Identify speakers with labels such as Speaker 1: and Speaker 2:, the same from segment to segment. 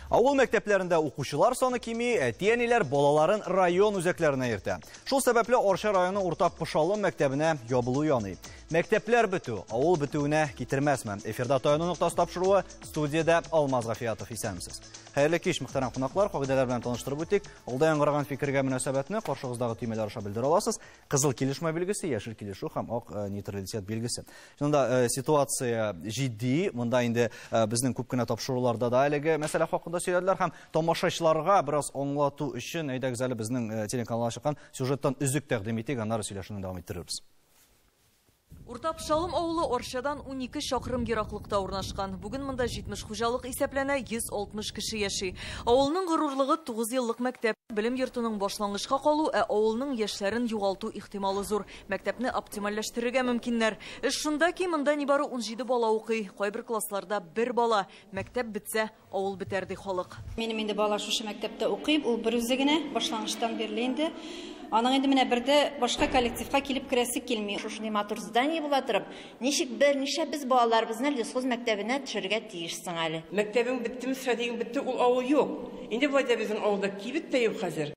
Speaker 1: Авыл мәктәпләрендә укучылар саны кими, әти-әниләр балаларын район үзәкләренә йөртә. Шул сәбәпле Арча районы урта Пошалым мәктәбенә ябылу яный. Мәктәпләр бетү, авыл бетүенә китермәсме? Эфирда таяну ноктасы тапшыруы студиядә Алмаз Гафиятов исәнмесез. Хәерле кич, мөхтәрәм кунаклар. Кагыйдәләр белән таныштырып үтик. Алда яңгыраган фикергә мөнәсәбәтне каршыгыздагы төймәләр аша белдерә аласыз. Кызыл килешмә билгесе, яшел килешү һәм ак э, нейтралитет билгесе. Шунда э, ситуация җитди. Монда инде э, безнең күп кенә тапшыруларда да әлеге мәсьәлә хакында сөйләделәр һәм тамашачыларга бераз аңлату өчен әйдәгез әле безнең телеканалга чыккан сюжеттан өзек тәкъдим итик, аннары сөйләшүне дәвам иттерербез.
Speaker 2: Урта Пчалым авылы Арчадан унике чакрым ераклыкта урнашкан. Бүген монда 70 хуҗалык исәпләнә, 160 кеше яши. Авылның горурлыгы, тугыз еллык мәктәп. Белем йортының башлангычка калу, ә авылның яшьләрен югалту ихтималы зур. Мәктәпне оптимальләштерергә мөмкиннәр. Эш шунда ки, монда нибары унҗиде бала укый, кайбер классларда бер бала. Мәктәп бетсә, Авыл бетәр ди халык. Минем инде бала шушы
Speaker 3: мәктәптә укый, ул берүзе генә, башлангычтан бирле инде. Аның инде менә бер дә башка коллективка килеп керәсе килми. Шушындый матур здание
Speaker 4: була торып, ничек бер нишләп без балаларыбызны лесхоз мәктәбенә төшерергә тиеш соң әле? Мәктәбең беттеме,
Speaker 5: садигың бетте, ул авыл юк. Инде болай да безнең авылда кибет тә юк хәзер.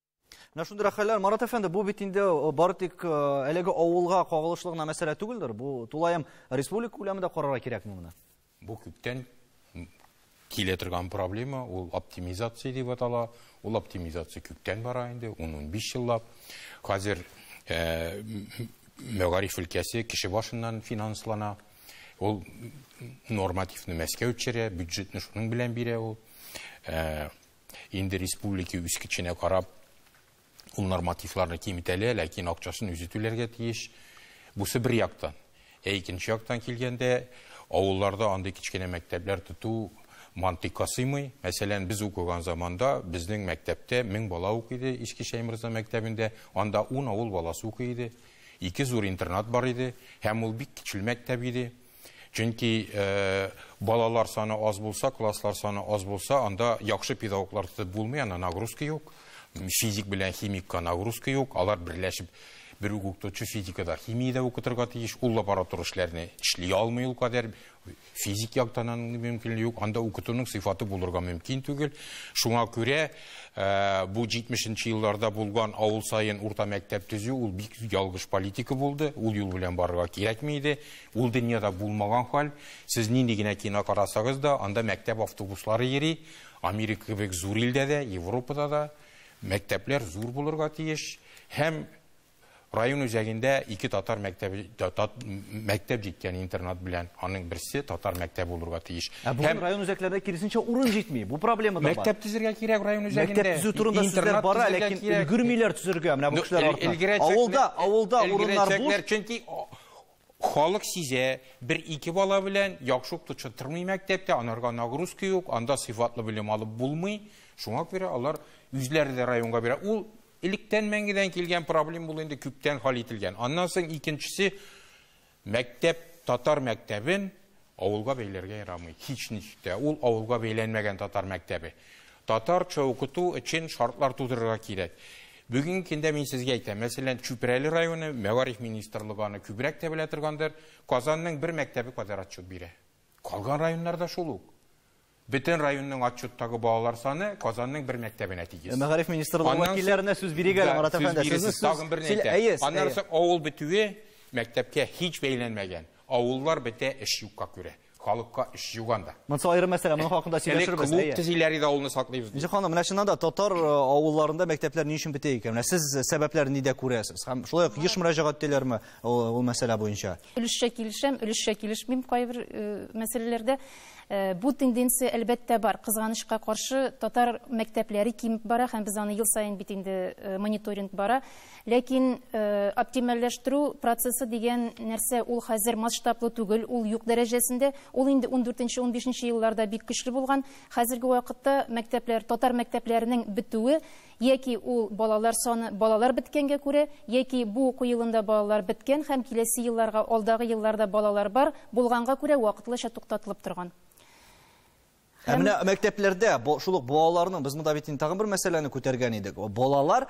Speaker 5: Менә шундый рәхәлләр,
Speaker 1: Марат әфәнде, бу бит инде э, бары тик э, әлеге авылга кагылышлы гына мәсьәлә түгелдер. Бу тулаем республика күләмендә карарга кирәкме моны? Бу күптән
Speaker 6: килә торган проблема, ул оптимизация дип атала. Ул оптимизация күптән бара инде, 10-15 еллап. Хәзер э, мәгариф өлкәсе кеше башыннан финанслана. Ул нормативны Мәскәү төшерә, бюджетны шуның белән бирә ул. Инде республики үскеченә карап, ул нормативларны киметәлә, ләкин акчасын үзе түләргә тиеш. Бусы бер яктан. Ә икенче яктан килгәндә, авылларда андый кечкенә мәктәпләр тоту мантыйкка сыймый. Мәсәлән, без укыган заманда безнең мәктәптә мең бала укый иде, Иске Шәйморза мәктәбендә, анда ун авыл баласы укый иде. Ике зур интернат бар иде, һәм ул бик кечел мәктәп иде. Чөнки балалар саны аз булса, класслар саны аз булса, анда яхшы педагоглар тотып булмый, анда нагрузка юк. Физик белән химикка нагрузка юк. Алар берләшеп бер үк укытучы физикада химиядә укытырга тиеш. Ул лабораторик эшләрне эшли алмый ул кадәр. Физик яктан аның мөмкинлеге юк. Анда укытуның сыйфаты булырга мөмкин түгел. Шуңа күрә бу 70-нче елларда булган авыл саен урта мәктәп төзү ул бик ялгыш политика булды. Ул юл белән барырга кирәкми иде. Ул дөньяда булмаган хәл, сез нинди генә кино карасагыз да, анда мәктәп автобуслары йөри, Америка кебек зур илдә дә, Европада да мәктәпләр зур булырга тиеш һәм район үзәгендә ике татар мәктәбе, мәктәп җиткән интернат белән, аның берсе татар мәктәбе булырга тиеш. Ә бүген һәм... район үзәкләрендә
Speaker 1: киресенчә урын җитми, бу проблема да бар. Мәктәп төзергә кирәк район
Speaker 6: үзәгендә. Мәктәп төзү турында сүзләр
Speaker 1: бара, ләкин өлгермиләр төзергә, менә бу кешеләр артыннан. Авылда, авылда урыннар буш. Чөнки
Speaker 6: Халык сизә, бер-ике бала белән яхшы укытучы тормый мәктәптә, анарга нагрузка юк, анда сыйфатлы белем алып булмый. Шуңа күрә алар үзләре дә районга бирә. Ул электән мәңгедән килгән проблем ул инде күптән хал ителгән. Аннан соң икенчесе мәктәп татар мәктәбен Авылга бәйләргә ярамый, һичничек тә. Ул авылга бәйләнмәгән татар мәктәбе. Татарча укыту өчен шартлар тудырырга кирәк. Бүгенге көндә мин сезгә әйтәм, мәсәлән, Чүпрәле районы мәгариф министрлыгы аны күбрәк тә белә торгандыр, Казанның бер мәктәбе кадәр отчет бирә. Калган районнар да шул ук. Бөтен районның отчеттагы балалар саны Казанның бер мәктәбенә тигез. Мәгариф министрлыгы
Speaker 1: вәкилләренә сүз бирик әле, Марат әфәнде. Сүз тагын берне әйтәм.
Speaker 6: Аннан соң авыл бетүе мәктәпкә һич бәйләнмәгән. Авыллар бетә эш юкка күрә. Халыкка эш юк анда. Монысы аерым мәсьәлә, моның
Speaker 1: хакында сөйләшербез. Элек клуб төзиләр иде, авылны
Speaker 6: саклыйбыз. Нижа ханым, менә чыннан да
Speaker 1: татар э, авылларында мәктәпләр ни өчен бетә икән? Менә сез сәбәпләрен нидә күрәсез? Һәм шулай ук еш мөрәҗәгать итәләрме ул мәсьәлә буенча? Өлешчә килешәм,
Speaker 3: өлешчә килешмим кайбер э, мәсьәләләрдә. Бу тенденция, әлбәттә, бар. Кызганычка каршы, татар мәктәпләре кимеп бара һәм без аны ел саен бит инде мониторинг бара. Ләкин оптимальләштерү процессы дигән нәрсә, ул хәзер масштаблы түгел, ул юк дәрәҗәсендә. Ул инде ундүртенче, унбишенче елларда бик көчле булган. Хәзерге вакытта мәктәпләр, татар мәктәпләренең бетүе Яки ул балалар саны балалар беткәнгә күрә, яки бу уку елында балалар беткән һәм киләсе елларга, алдагы елларда балалар бар, булганга күрә вакытлыча туктатылып торган. Ә
Speaker 1: менә мәктәпләрдә шул ук балаларның, без монда бит инде тагын бер мәсьәләне күтәргән идек. Балалар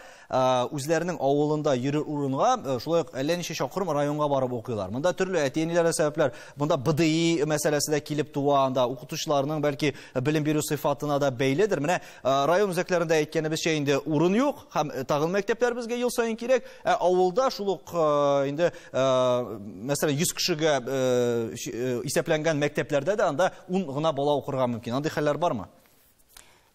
Speaker 1: үзләренең авылында йөрер урынга, шулай ук әллә ничә чакрым районга барып укыйлар. Монда төрле әти-әниләргә сәбәпләр, монда БДИ мәсьәләсе дә килеп туа, анда укытучыларның бәлки белем бирү сыйфатына да бәйледер. Менә Район үзәкләрендә әйткәнебезчә инде урын юк һәм тагын мәктәпләр безгә ел саен кирәк. Ә авылда шул ук инде мәсәлән 100 кешегә исәпләнгән мәктәпләрдә дә анда 10 гына бала укырга мөмкин. Андый хәлләр бармы?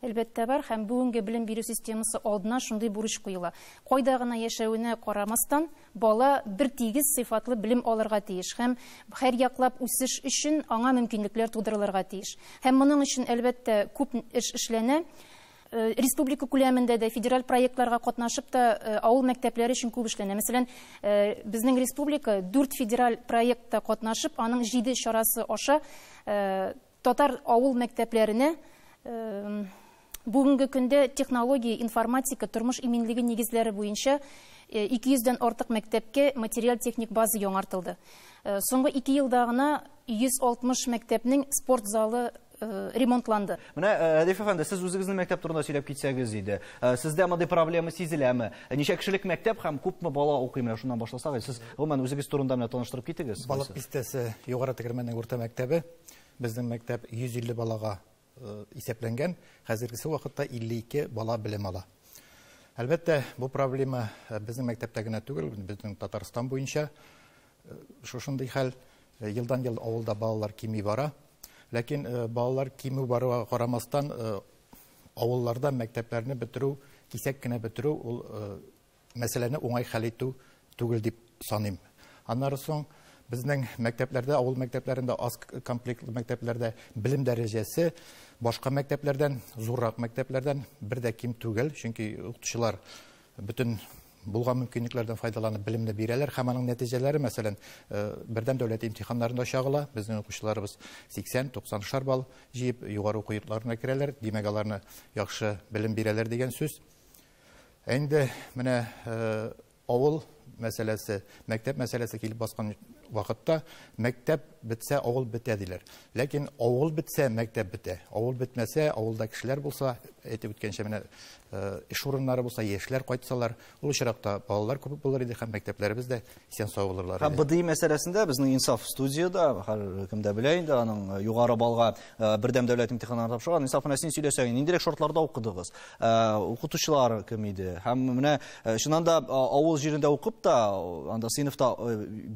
Speaker 1: Әлбәттә
Speaker 3: бар һәм бүгенге белем бирү системасы алдына шундый бурыч куела. Кайда гына яшәвенә карамастан, Бала бертигез сыйфатлы белем алырга тиеш һәм һәрьяклап үсеш өчен аңа мөмкинлекләр тудырылырга тиеш. Һәм моның өчен, әлбәттә, күп эш эшләнә. Республика күләмендә дә, федераль проектларга катнашып та авыл мәктәпләре өчен күп эшләнә. Мәсәлән, безнең республика дүрт федераль проектта катнашып, аның җиде чарасы аша, Татар авыл мәктәпләренә бүгенге көндә технология, информатика, тормыш иминлеге нигезләре буенча 200 дән артык мәктәпкә материаль-техник база яңартылды. Соңгы ике елда гына 160 мәктәпнең спорт залы ремонтланды. Менә, Рәдиф
Speaker 1: әфәнде, сез үзегезнең мәктәп турында сөйләп китсәгез иде. Сездә мондый проблема сизеләме? Ничә кешелек мәктәп һәм күпме бала укый? Менә шуннан башласак, сез гомумән үзегез турында менә таныштырып китегез. Балык Бистәсе
Speaker 7: югары тегермәннең урта мәктәбе. Безнең мәктәп 150 балага исәпләнгән, хәзергесе вакытта 52 бала белем ала. Әлбәттә, бу проблема безнең мәктәптә генә түгел, безнең Татарстан буенча шушындый хәл. Елдан-ел авылда балалар кими бара. Ләкин балалар кимү баруга карамастан, авылларда мәктәпләрне бетерү, кисәк кенә бетерү, ул мәсьәләне уңай хәл итү түгел дип саныйм. Аннары соң безнең мәктәпләрдә, авыл мәктәпләрендә, аз комплектлы мәктәпләрдә белем дәрәҗәсе башка мәктәпләрдән, зуррак мәктәпләрдән бер дә ким түгел, чөнки укытучылар бөтен булган мөмкинлекләрдән файдаланып белемне бирәләр һәм аның нәтиҗәләре, мәсәлән, э, бердәм дәүләт имтиханнарында чагыла. Безнең укучыларыбыз 80-90 шар балл җыеп, югары уку йортларына керәләр. Димәк, аларны яхшы белем бирәләр дигән сүз. Ә инде менә авыл мәсьәләсе, мәктәп мәсьәләсе килеп баскан вакытта мәктәп бетсә, авыл бетә диләр. Ләкин авыл бетсә, мәктәп бетә. Авыл бетмәсә, авылда кешеләр булса, әйтеп үткәнчә менә э, эш урыннары булса, яшьләр кайтсалар, ул очракта балалар күп булыр иде һәм мәктәпләребез дә Исән сау булырлар. Һәм БДИ мәсьәләсендә безнең
Speaker 1: Инсаф студияда, һәркем дә белә инде, аның э, югары балга э, бердәм дәүләт имтиханнарын тапшырган. Инсаф менә син сөйләсәң, ниндирәк шартларда укыдыгыз? Э, укытучылар кем иде? Һәм менә чыннан да авыл җирендә укып та, анда сыйныфта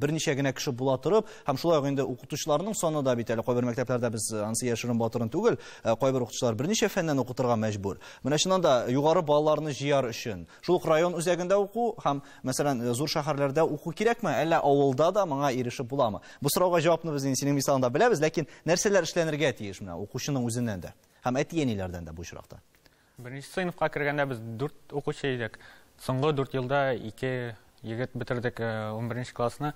Speaker 1: берничә генә кеше була торып, һәм шулай ук инде укытучыларның саны да бит әле кайбер мәктәпләрдә без ансы яшерен батырын түгел, кайбер укытучылар берничә фәннән укытырга мәҗбүр. Менә чыннан да югары балаларны җыяр өчен, шул ук район үзәгендә уку һәм Мәсәлән, э, зур шәһәрләрдә уку кирәкме, әллә авылда да моңа ирешеп буламы? Бу сорауга җавапны без инде синең мисалыңда беләбез, ләкин нәрсәләр эшләнергә тиеш менә укучының үзеннән дә һәм әти-әниләрдән дә бу очракта? Беренче сыйныфка
Speaker 8: кергәндә без дүрт укучы идек. Соңгы дүрт елда ике егет бетердек э, унберенче классны.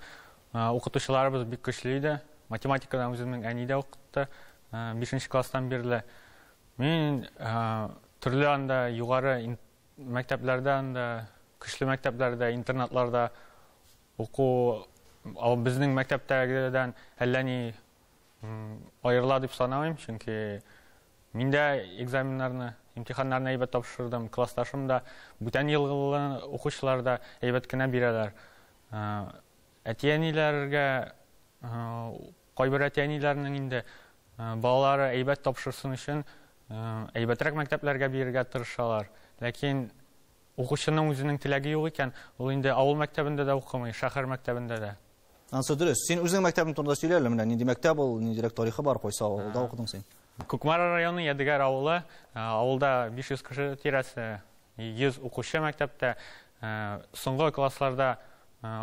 Speaker 8: Э, укытучыларыбыз бик көчле иде. Математикадан үземнең әни дә укытты. Бишенче класстан бирле. Мин төрле анда югары Мәктәпләрдә анда, көчле мәктәпләрдә, интернатларда уку ал безнең мәктәптәгедән әллә ни аерыла дип санамыйм, чөнки мин дә экзаменнарны, имтиханнарны әйбәт тапшырдым, классташым да, бүтән елгылы укучылар да әйбәт кенә бирәләр. Әти-әниләргә Кайбер әти-әниләрнең инде балалары әйбәт тапшырсын өчен әйбәтрәк мәктәпләргә биергә тырышалар. Ләкин укучының үзенең теләге юк икән, ул инде авыл мәктәбендә дә укымый, шәһәр мәктәбендә дә. Ансы дөрес. Син
Speaker 1: үзең мәктәбең турында сөйлә әле, менә нинди мәктәп ул, ниндирәк тарихы бар, кайсы авылда укыдың син? Кукмара районы
Speaker 8: Ядегәр авылы, авылда 500 кеше тирәсе, 100 укучы мәктәптә. Соңгы классларда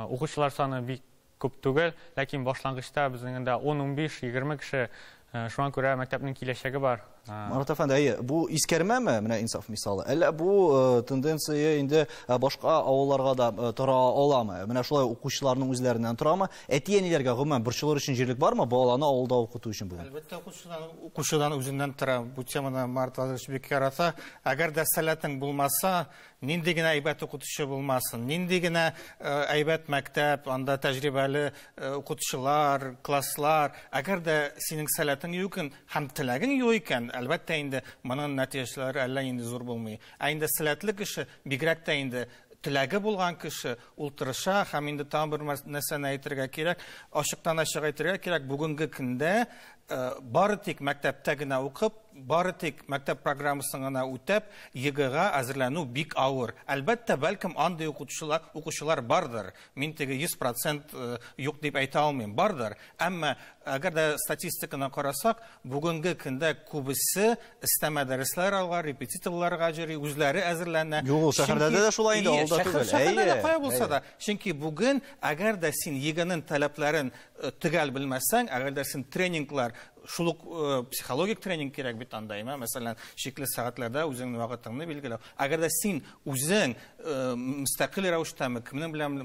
Speaker 8: укучылар саны бик Күп түгел, ләкин башлангычта безнең дә ун-унбиш, егерме кеше, шуңа күрә мәктәпнең киләчәге бар. Марат әфәнде, әйе,
Speaker 1: бу искәрмәме, менә Инсаф мисалы, әллә бу тенденция инде башка авылларга да тора аламы? Менә шулай укучыларның үзләреннән торамы? Әти-әниләргә гомумән борчылыр өчен җирлек бармы баланы авылда укыту өчен бүген? Әлбәттә, укучыдан,
Speaker 7: укучыдан үзеннән тора. Бу теманы Марат Владимирович бик ярата. Әгәр дә сәләтең булмаса, Нинди генә әйбәт укытучы булмасын, нинди генә әйбәт мәктәп, анда тәҗрибәле укытучылар, класслар, әгәр дә синең сәләтең юк икән һәм теләгең юк икән, әлбәттә инде моның нәтиҗәләре әллә нинди зур булмый. Ә инде сәләтле кеше, бигрәк тә инде теләге булган кеше, ул тырыша һәм инде тагын бер нәрсәне әйтергә кирәк, ачыктан-ачык әйтергә кирәк, бүгенге көндә Э, бары тик мәктәптә генә укып, бары тик мәктәп программасын гына үтәп, ЕГЭга әзерләнү бик авыр. Әлбәттә, бәлкем андый укучылар, укучылар бардыр. Мин теге 100% э, юк дип әйтә алмыйм, бардыр. Әмма әгәр дә статистиканы карасак, бүгенге көндә күбесе өстәмә дәресләр алга, репетиторларга җыри, үзләре әзерләнә. Юк, ул шәһәрдә дә
Speaker 1: шулай инде, авылда түгел. Шәһәрдә дә кая булса да.
Speaker 7: Чөнки бүген әгәр дә син ЕГЭның таләпләрен Э, төгәл белмәсәң әгәр дә син тренинглар шул ук э, психологик тренинг кирәк бит анда имә мәсәлән шикле сәгатьләрдә үзеңнең вакытыңны билгеләү әгәр дә син үзең э, мөстәкыйль рәвештәме кемнең белән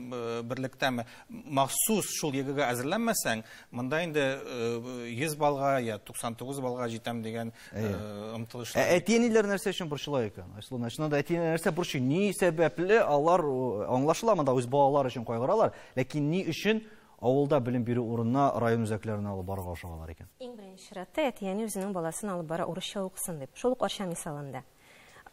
Speaker 7: берлектәме махсус шул егыга әзерләнмәсәң монда инде 100 балга я 99 балга җитәм дигән омтылыш ә әти әниләр нәрсә
Speaker 1: өчен борчыла икән айсылу чыннан да әти нәрсә борчый ни сәбәпле алар аңлашыла монда үз балалары өчен кайгыралар ләкин ни өчен Авылда белем бирү урынына район үзәкләренә алып барырга ашыгалар икән. Иң беренче чиратта
Speaker 9: әти-әни үзенең баласын алып бара урысча укысын дип. Шул ук Арча мисалында.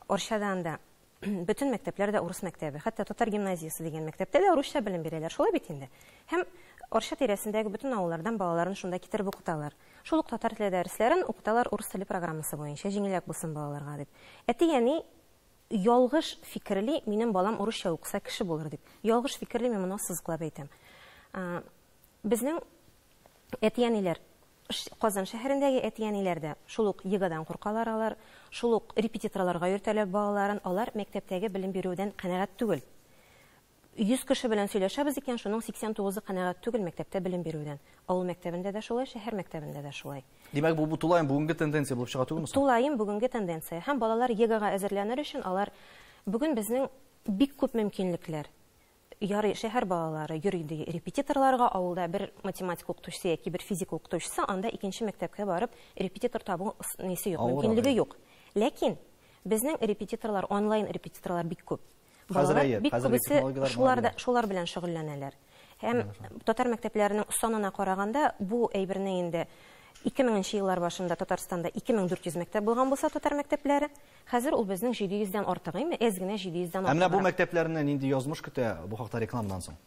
Speaker 9: Арчада анда бөтен мәктәпләр дә урыс мәктәбе. Хәтта татар гимназиясе дигән мәктәптә дә урысча белем бирәләр. Шулай бит инде. Һәм Арча тирәсендәге бөтен авыллардан балаларын шунда китереп укыталар. Шул ук татар теле дәресләрен укыталар урыс теле программасы буенча, җиңелрәк булсын балаларга дип. Әти-әни Ялгыш фикерли, минем балам урысча укыса, кеше булыр дип. Ялгыш фикерли, мин моны ассызыклап әйтәм. Безнең әти-әниләр, Казан шәһәрендәге әти-әниләр дә шул ук егадан куркалар алар, шул ук репетиторларга йөртәләр балаларын, алар мәктәптәге белем бирүдән канәгать түгел. 100 кеше белән сөйләшәбез икән, шуның 89-ы канәгать түгел мәктәптә белем бирүдән. Авыл мәктәбендә дә шулай, шәһәр мәктәбендә дә шулай. Димәк, бу тулаем
Speaker 1: бүгенге тенденция булып чыга түгелме соң? Тулаем бүгенге тенденция.
Speaker 9: Һәм балалар ЕГЭга әзерләнер өчен алар бүген безнең бик күп мөмкинлекләр. Ярый, шәһәр балалары йөри ди репетиторларга, авылда бер математика укытучысы яки бер физика укытучысы, анда икенче мәктәпкә барып репетитор табу несе юк, мөмкинлеге юк. Ләкин безнең репетиторлар, онлайн репетиторлар бик күп. Хәзер әйе, бик күбесе шулар да шулар белән шөгыльләнәләр. Һәм татар мәктәпләренең санына караганда, бу әйберне инде 2000 нче еллар башында Татарстанда 2400 мәктәп булган булса татар мәктәпләре, хәзер ул безнең 700 дән артык, әйме, әз генә 700 дән артык. Ә менә бу мәктәпләрне
Speaker 1: нинди язмыш көтә бу хакта рекламадан соң?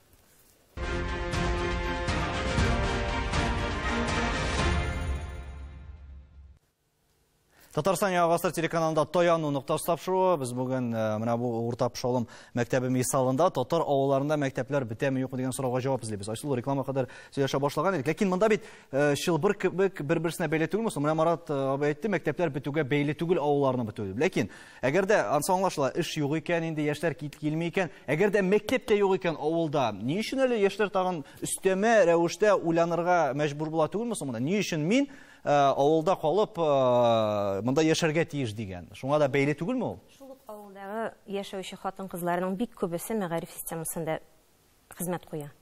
Speaker 1: Татарстан Яңа гасыр телеканалында Таяну ноктасы тапшыруы. Без бүген э, менә бу урта Пшолым мәктәбе мисалында татар авылларында мәктәпләр бетәме юкмы дигән сорауга җавап эзлибез. Айсылу реклама кадәр сөйләшә башлаган идек. Ләкин монда бит э, чылбыр кебек бер-берсенә бәйле түгелме? Менә Марат э, абый әйтте, мәктәпләр бетүгә бәйле түгел авылларны бетү дип. Ләкин әгәр дә ансы аңлашыла, эш юк икән, инде яшьләр килми икән, әгәр дә мәктәп тә юк икән авылда, ни өчен әле яшьләр тагын өстәмә рәвештә уйланырга мәҗбүр була түгелме соң монда? Ни өчен мин Ә, авылда калып, ә, монда яшәргә тиеш дигән. Шуңа да бәйле түгелме ул? Шул ук авылдагы
Speaker 9: яшәүче хатын-кызларның бик күбесе мәгариф системасында хезмәт куя.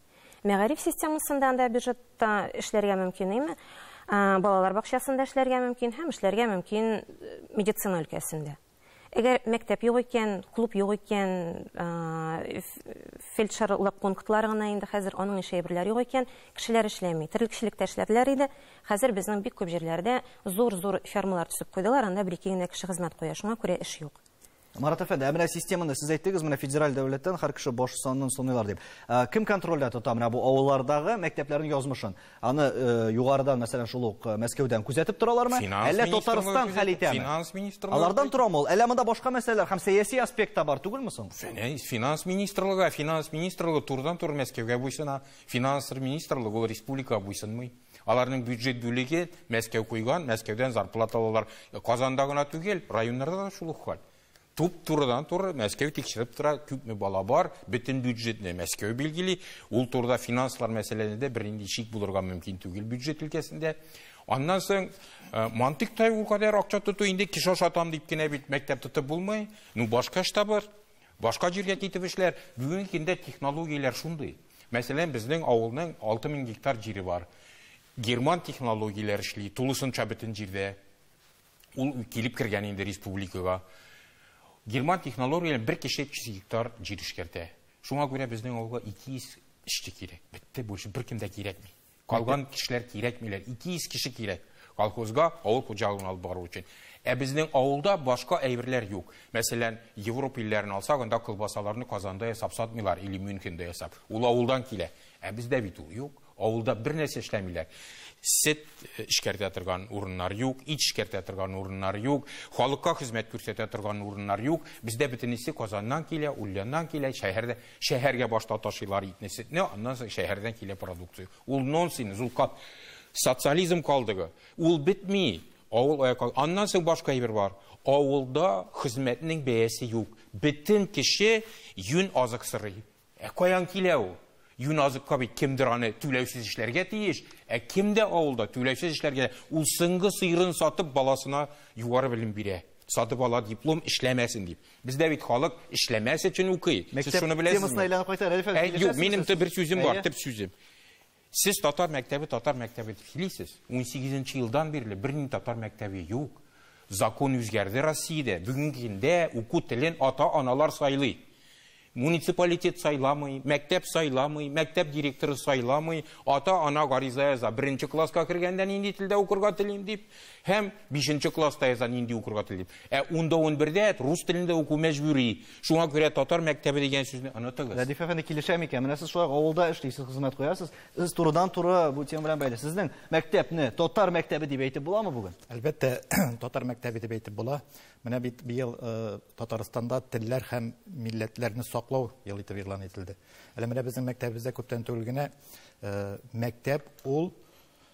Speaker 9: Мәгариф системасында анда бюджетта эшләргә мөмкин име? Ә, балалар бакчасында эшләргә мөмкин һәм эшләргә мөмкин э, медицина өлкәсендә. Әгәр мәктәп юк икән, клуб юк икән, фельдшерлык пунктлары гына инде хәзер, аның ише әйберләр юк икән, кешеләр эшләми. Терлекчелектә эшләделәр иде. Хәзер безнең бик күп җирләрдә зур-зур фермалар төзеп куйдылар, анда бер-ике генә кеше хезмәт куя, шуңа күрә эш юк. Марат әфәнде, ә
Speaker 1: менә системаны сез әйттегез, менә федераль дәүләттән һәр кеше баш санын саныйлар дип. Кем контрольдә тота менә бу авыллардагы мәктәпләрнең язмышын? Аны югарыдан, мәсәлән, шул ук Мәскәүдән күзәтеп торалармы? Әллә Татарстан хәл итәме? Финанс министрлыгы. Алардан
Speaker 6: торамы ул? Әллә монда
Speaker 1: башка мәсьәләләр һәм сәяси аспект та бар түгелме соң? Финанс министрлыгы,
Speaker 6: финанс министрлыгы турыдан туры Мәскәүгә буйсына. Финанс министрлыгы ул республика буйсынмый. Аларның бюджет бүлеге Мәскәү куйган, Мәскәүдән зарплата алалар. Казанда гына түгел, районнарда да шул ук хәл. Туп турыдан туры Мәскәү тикшереп тора, күпме бала бар, бөтен бюджетны Мәскәү билгели. Ул турыда финанслар мәсьәләләрендә бернинди шик булырга мөмкин түгел бюджет өлкәсендә. Аннан соң э, мантык тай ул кадәр акча тоту инде кеше ашатам дип кенә бит мәктәп тотып булмый. Ну башка эш табыр, башка җиргә китеп эшләр. Бүгенге көндә технологияләр шундый. Мәсәлән, безнең авылның 6000 гектар җире бар. Герман технологияләр эшли, тулысынча бөтен җирдә. Ул килеп кергән инде республикага. Герман технологияләр бер кеше 300 гектар җир эшкәртә. Шуңа күрә безнең авылга 200 эшче кирәк. Бетте, больше беркем дә кирәкми. Калган кешеләр кирәкмиләр. 200 кеше кирәк колхозга авыл хуҗалыгын алып бару өчен. Ә безнең авылда башка әйберләр юк. Мәсәлән, Европ илләрен алсак, анда колбасаларны Казанда ясап сатмыйлар или Мюнхенда ясап. Ул авылдан килә. Ә бездә бит ул юк. Авылда бер нәрсә эшләмиләр. Сөт эшкәртә торган урыннар юк, ит эшкәртә торган урыннар юк, халыкка хезмәт күрсәтә торган урыннар юк. Бездә бөтенесе Казаннан килә, Ульяннан килә, шәһәрдә, шәһәргә башта ташыйлар итне, сөтне, аннан соң шәһәрдән килә продукция. Ул нонсен, зулкат. Социализм калдыгы. Ул бетми. Авыл аяк ал... Аннан соң башка әйбер бар. Авылда хезмәтнең бәясе юк. Бөтен кеше юн азык сорый. Ә каян килә ул? Юназыкка бит кемдер аны түләүсез эшләргә тиеш, ә кем дә авылда түләүсез эшләргә, ул соңгы сыерын сатып баласына югары белем бирә, сатып ала диплом, эшләмәсен дип. Бездә бит халык эшләмәс өчен укый. Сез шуны беләсезме? Мәктәп темасына әйләнеп кайтар әле. Юк, минем бер сүзем бар, төп сүзем. Сез татар мәктәбе, татар мәктәбе дип сөйлисез. Унсигезенче елдан бирле бернинди татар мәктәбе юк. Закон үзгәрде Россиядә. Бүгенге көндә уку телен ата-аналар сайлый. Муниципалитет сайламый, мәктәп сайламый, мәктәп директоры сайламый, ата-ана гариза яза. Беренче класска кергәндә нинди телдә укырга телим дип, һәм бишенче класста яза нинди укырга телим дип. Ә унда унбердә рус телендә уку мәҗбүри. Шуңа күрә татар мәктәбе дигән сүзне онытыгыз. Рәдиф әфәнде килешә микән?
Speaker 1: Менә сез шулай авылда эшлисез, хезмәт куясыз. Сез турыдан туры бу тема белән бәйле. Сезнең мәктәпне татар мәктәбе дип әйтеп буламы бүген? Әлбәттә,
Speaker 7: татар мәктәбе дип әйтеп була. Менә бит быел э, Татарстанда телләр һәм милләтләрне саклау ел итеп игълан ителде. Әле менә безнең мәктәбебездә күптән түгел генә э, мәктәп ул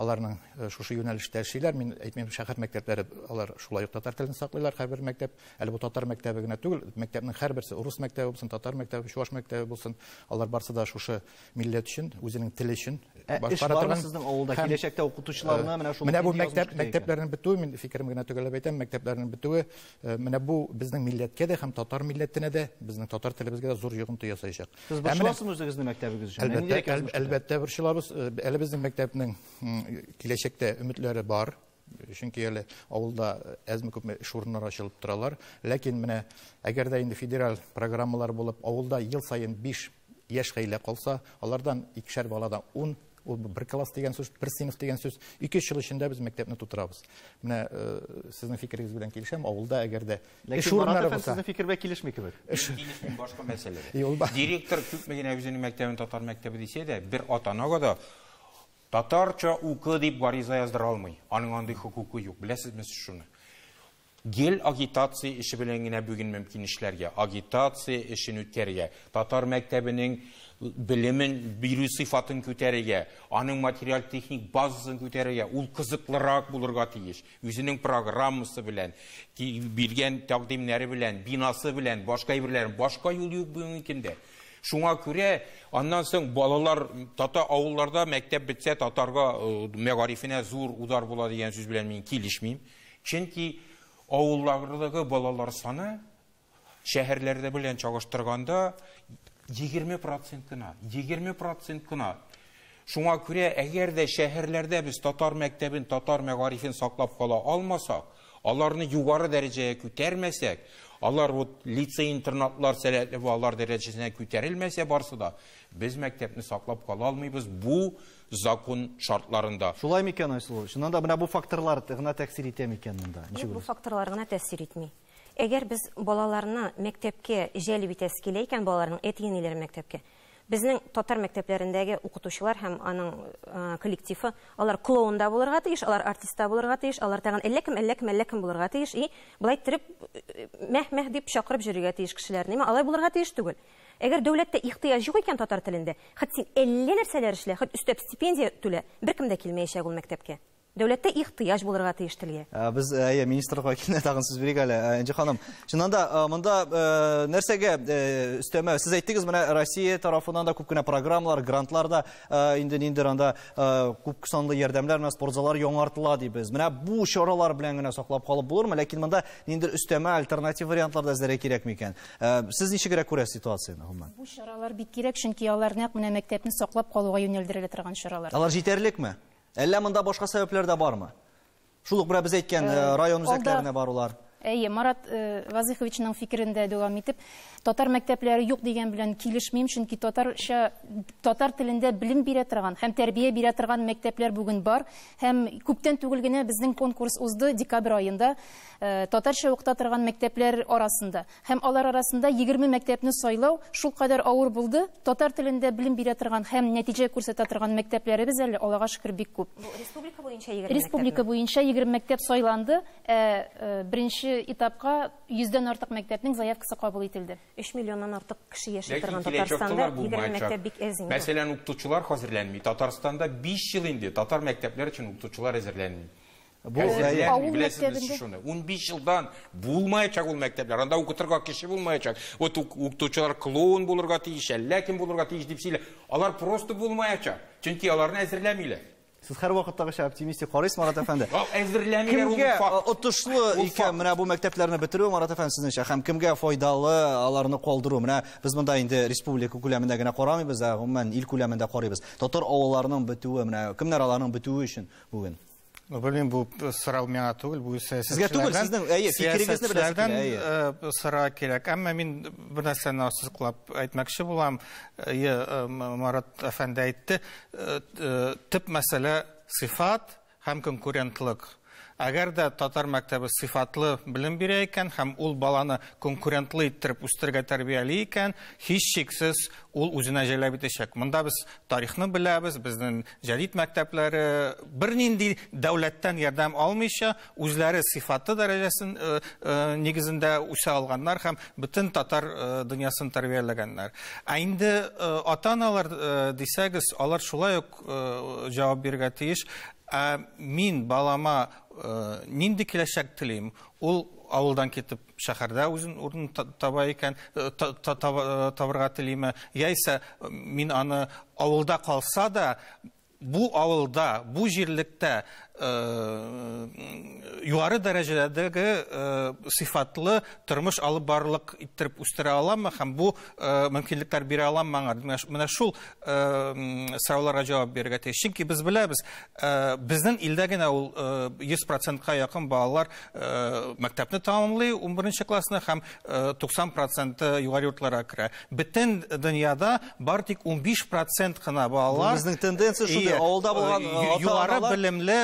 Speaker 7: Аларның шушы юнәлештә эшлиләр. Мин әйтмим, шәһәр мәктәпләре алар шулай ук татар телен саклыйлар. Һәрбер мәктәп, әле бу татар мәктәбе генә түгел, мәктәпнең һәрберсе, урыс мәктәбе булсын, татар мәктәбе, чуваш мәктәбе булсын, алар барсы да шушы милләт өчен, үзенең теле өчен башкара торган. Ә эш бармы сезнең
Speaker 1: авылда? Киләчәктә укытучыларны менә шул мәктәп, мәктәпләрнең
Speaker 7: бетүе, мин фикерем генә төгәлләп әйтәм, мәктәпләрнең бетүе, Э, менә бу безнең милләткә дә һәм татар милләтенә дә безнең татар телебезгә дә зур йогынты ясаячак сез борчыласызмы үзегезне
Speaker 1: мәктәбегез өчен әлбәттә әлбәттә борчылабыз
Speaker 7: э, әле безнең мәктәпнең киләчәктә өметләре бар чөнки әле авылда э, әзме күпме эш урыннары ачылып торалар ләкин менә әгәр дә инде федераль программалар булып авылда ел саен биш яшь гаилә калса алардан икешәр баладан ун Ул бер класс дигән сүз, бер сыйныф дигән сүз, 2-3 ел эчендә без мәктәпне тутырабыз. Менә э, сезнең фикерегез белән килешәм, авылда әгәр дә эш урыннары булса. Сезнең фикер белән килешми кебек.
Speaker 1: Эш килешми
Speaker 6: башка мәсьәлә. Директор күпме генә үзенең мәктәбен татар мәктәбе дисә дә, бер ата-анага да татарча укы дип гариза яздыра алмый. Аның андый хокукы юк. Беләсезме сез шуны? Гел агитация эше белән генә бүген мөмкин эшләргә, агитация эшен үткәрергә, татар мәктәбенең белемен бирү сыйфатын күтәрергә, аның материаль-техник базасын күтәрергә, ул кызыклырак булырга тиеш. Үзенең программасы белән, биргән тәкъдимнәре белән, бинасы белән, башка әйберләрен, башка юл юк бүгенге көндә. Шуңа күрә аннан соң балалар татар авылларда мәктәп бетсә татарга мәгарифенә зур удар була дигән сүз белән мин килешмим. Чөнки авыллардагы балалар саны шәһәрләрдә белән чагыштырганда егерме процент кына, егерме процент кына. Шуңа күрә, әгәр дә шәһәрләрдә без татар мәктәбен, татар мәгарифен саклап кала алмасак, аларны югары дәрәҗәгә күтәрмәсәк, алар вот лицей-интернатлар сәләтле балалар дәрәҗәсенә күтәрелмәсә барсы да, без мәктәпне саклап кала алмыйбыз, бу закон шартларында. Шулай микән, Айсылу?
Speaker 1: Чыннан да менә бу факторлар гына тәэсир итә микән монда? Ничек Юк, бу факторлар гына
Speaker 9: тәэсир итми. Әгәр без балаларны мәктәпкә җәлеп итәсе килә икән, балаларның әти-әниләрен мәктәпкә, безнең татар мәктәпләрендәге укытучылар һәм аның коллективы, алар клоун да булырга тиеш, алар артист та булырга тиеш, алар тагын әллә кем, әллә кем, әллә кем булырга тиеш. И, болай иттереп мәһ-мәһ дип чакырып йөрергә тиеш кешеләрне. Алай булырга тиеш түгел. Әгәр дәүләттә ихтыяҗ юк икән татар телендә, хет син әллә нәрсәләр эшлә, хет өстәп стипендия түлә, беркем дә килмәячәк ул мәктәпкә. Дәүләттә ихтыяҗ булырга тиеш телгә. Без, әйе, министрлыкка
Speaker 1: килде, тагын сүз бирик әле. Энҗе ханым, чыннан да, монда нәрсәгә өстәмә? Сез әйттегез, менә Россия тарафыннан да күп кенә программалар, грантлар да инде ниндидер анда күп санлы ярдәмнәр, менә спортзаллар яңартыла дибез. Менә бу чаралар белән генә саклап калып булырмы? Ләкин монда ниндидер өстәмә, альтернатив вариантлар да эзләргә кирәкме икән? Ә, сез ничегрәк күрәсез ситуацияне, гомумән? Бу чаралар бик кирәк,
Speaker 3: чөнки алар нәкъ менә мәктәпне саклап калуга юнәлдерелә торган чаралар. Алар җитәрлекме?
Speaker 1: Әллә монда башка сәбәпләр дә бармы? Шул ук менә без әйткән э, э, район үзәкләренә барулар. Әйе, Марат
Speaker 3: э, Вазыховичның фикерендә дәвам итеп, татар мәктәпләре юк дигән белән килешмим, чөнки татарча татар телендә белем бирә торган һәм тәрбия бирә торган мәктәпләр бүген бар һәм күптән түгел генә безнең конкурс узды декабрь аенда. Татарча укыта торган мәктәпләр арасында һәм алар арасында 20 мәктәпне сайлау шулкадәр авыр булды. Татар телендә белем бирә торган һәм нәтиҗә күрсәтә торган мәктәпләребез әле, Аллага шөкер, бик күп. Бу республика буенча 20 мәктәпме?
Speaker 9: Республика буенча 20
Speaker 3: мәктәп сайланды, ә беренче этапка 100 дән артык мәктәпнең заявкасы кабул ителде. Өч миллионнан артык
Speaker 9: кеше яши торган Татарстанда 20 мәктәп бик әз инде. Мәсәлән, укытучылар
Speaker 6: хәзерләнми. Татарстанда биш ел инде татар мәктәпләр өчен укытучылар әзерләнми. Бу
Speaker 3: авыл мәктәбендә шуны. 15 елдан
Speaker 6: булмаячак ул мәктәпләр. Анда укытырга кеше булмаячак. Вот укытучылар клоун булырга тиеш, әллә кем булырга тиеш дип сөйлә. Алар просто булмаячак. Чөнки аларны әзерләмиләр. Сез һәр вакыттагыча
Speaker 1: оптимистик карыйсыз, Марат әфәнде. Әзерләмиләр ул факт. Кемгә
Speaker 6: отышлы икән менә
Speaker 1: бу мәктәпләрне бетерү, Марат әфәнде, сезнеңчә, һәм кемгә файдалы аларны калдыру? Менә без монда инде республика күләмендә генә карамыйбыз, ә гомумән ил күләмендә карыйбыз. Татар авылларының бетүе, менә кемнәр аларның бетүе өчен бүген? Белмим, бу
Speaker 7: сорау миңа түгел, бу Сезгә түгел, сезнең,
Speaker 1: әйе, фикерегезне беләсез килә, әйе. Э, сора кирәк.
Speaker 7: Әмма мин бер нәрсәне ассызыклап әйтмәкче булам. Әйе, э, Марат әфәнде әйтте, э, төп мәсьәлә сыйфат һәм конкурентлык. Әгәр дә татар мәктәбе сыйфатлы белем бирә икән һәм ул баланы конкурентлы иттереп үстерергә тәрбияли икән, һичшиксез ул үзенә җәлеп итәчәк. Монда без тарихны беләбез, безнең Җәдит мәктәпләре бернинди дәүләттән ярдәм алмыйча, үзләре сыйфатлы дәрәҗәсен э, э, нигезендә үсә алганнар һәм бөтен татар э, дөньясын тәрбияләгәннәр. Ә инде ата-аналар дисәгез, алар шулай ук җавап бирергә тиеш. Ә мин балама нинди киләчәк телим? Ул авылдан китеп шәһәрдә үзен урын таба икән, э, э, табырга телиме, яисә мин аны авылда калса да, бу авылда, бу җирлектә э, югары дәрәҗәдәге сыйфатлы тормыш алып барлык иттереп үстерә аламмы һәм бу мөмкинлекләр бирә аламмы аңа? Менә шул сорауларга җавап бирергә тиеш. Чөнки без беләбез, безнең илдә генә ул 100%-ка якын балалар Э, мәктәпне тәмамлый 11 классны һәм 90 э, проценты югары йортларга керә бөтен дөньяда бар тик 15 процент кына балалар безнең тенденция шундый
Speaker 1: авылда булган э, югары белемле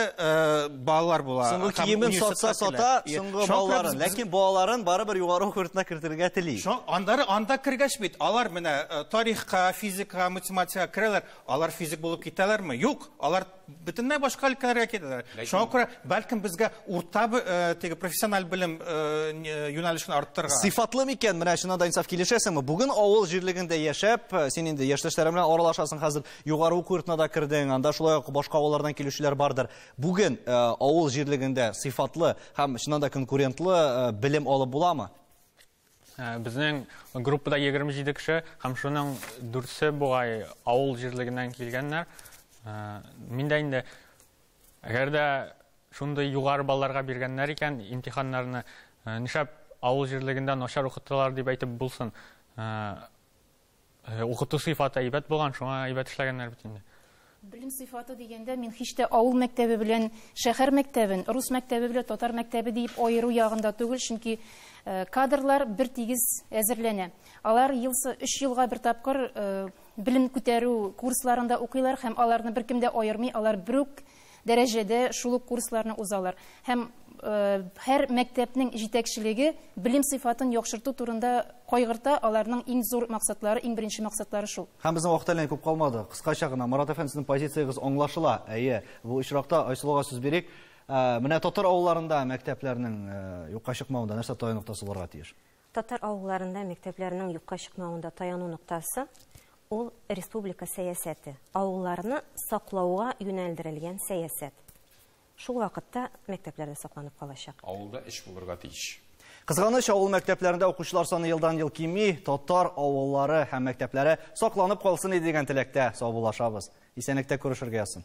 Speaker 7: балалар була соңгы киемен сатса
Speaker 1: сата соңгы балаларын ләкин балаларын барыбер югары уку йортына кертергә тели анда анда кергәч
Speaker 7: бит алар менә тарихка физика математикага керәләр алар физик булып китәләрме юк алар бөтенләй башка өлкәләргә китәләр. Шуңа күрә, бәлкем безгә урта э, теге профессиональ белем э, э, юнәлешен арттырырга. Сыйфатлы микән? Менә
Speaker 1: чыннан да инсаф килешәсеңме? Бүген авыл җирлегендә яшәп, син инде яшьтәшләрең белән аралашасың хәзер. Югары уку йортына да кердең, анда шулай ук башка авыллардан килүчеләр бардыр. Бүген авыл җирлегендә сыйфатлы һәм чыннан да конкурентлы белем алып буламы? Ә,
Speaker 8: Безнең группада 27 кеше һәм шуның дүртсе бугай авыл җирлегеннән килгәннәр. Ә, Мин дә инде әгәр дә шундый югары балларга биргәннәр икән имтиханнарны, ә, нишләп авыл җирлегендә начар укыталар дип әйтеп булсын. Ә, Укыту сыйфаты әйбәт булган, шуңа әйбәт эшләгәннәр бит инде. Белем сыйфаты
Speaker 3: дигәндә мин һич тә авыл мәктәбе белән шәһәр мәктәбен, рус мәктәбе белән татар мәктәбе диеп аеру ягында түгел, чөнки э, кадрлар бер тигез әзерләнә. Алар елсы 3 елга бер тапкыр э, белем күтәрү курсларында укыйлар һәм аларны беркем дә аермый, алар берүк дәрәҗәдә шул ук курсларны узалар һәм һәр мәктәпнең җитәкчелеге белем сыйфатын яхшырту турында кайгырта, аларның иң зур максатлары, иң беренче максатлары шул. Һәм безнең вакыт әллә ни күп
Speaker 1: калмады. Кыскача гына, Марат әфәнде, сезнең позициягез аңлашыла. Әйе, бу очракта Айсылуга сүз бирик. Менә татар авылларында мәктәпләрнең юкка чыкмавында нәрсә таянык тасаларга тиеш? Татар авылларында
Speaker 9: мәктәпләрнең юкка чыкмавында таяну ноктасы, ул республика сәясәте, авылларны саклауга юнәлдерелгән сәясәт. Шул вакытта мәктәпләр дә сакланып калачак. Авылда эш булырга
Speaker 6: тиеш. Кызганыч, авыл
Speaker 1: мәктәпләрендә укучылар саны елдан-ел кими, татар авыллары һәм мәктәпләре сакланып калсын иде дигән теләктә саубуллашабыз. Исәнлектә күрешергә язсын.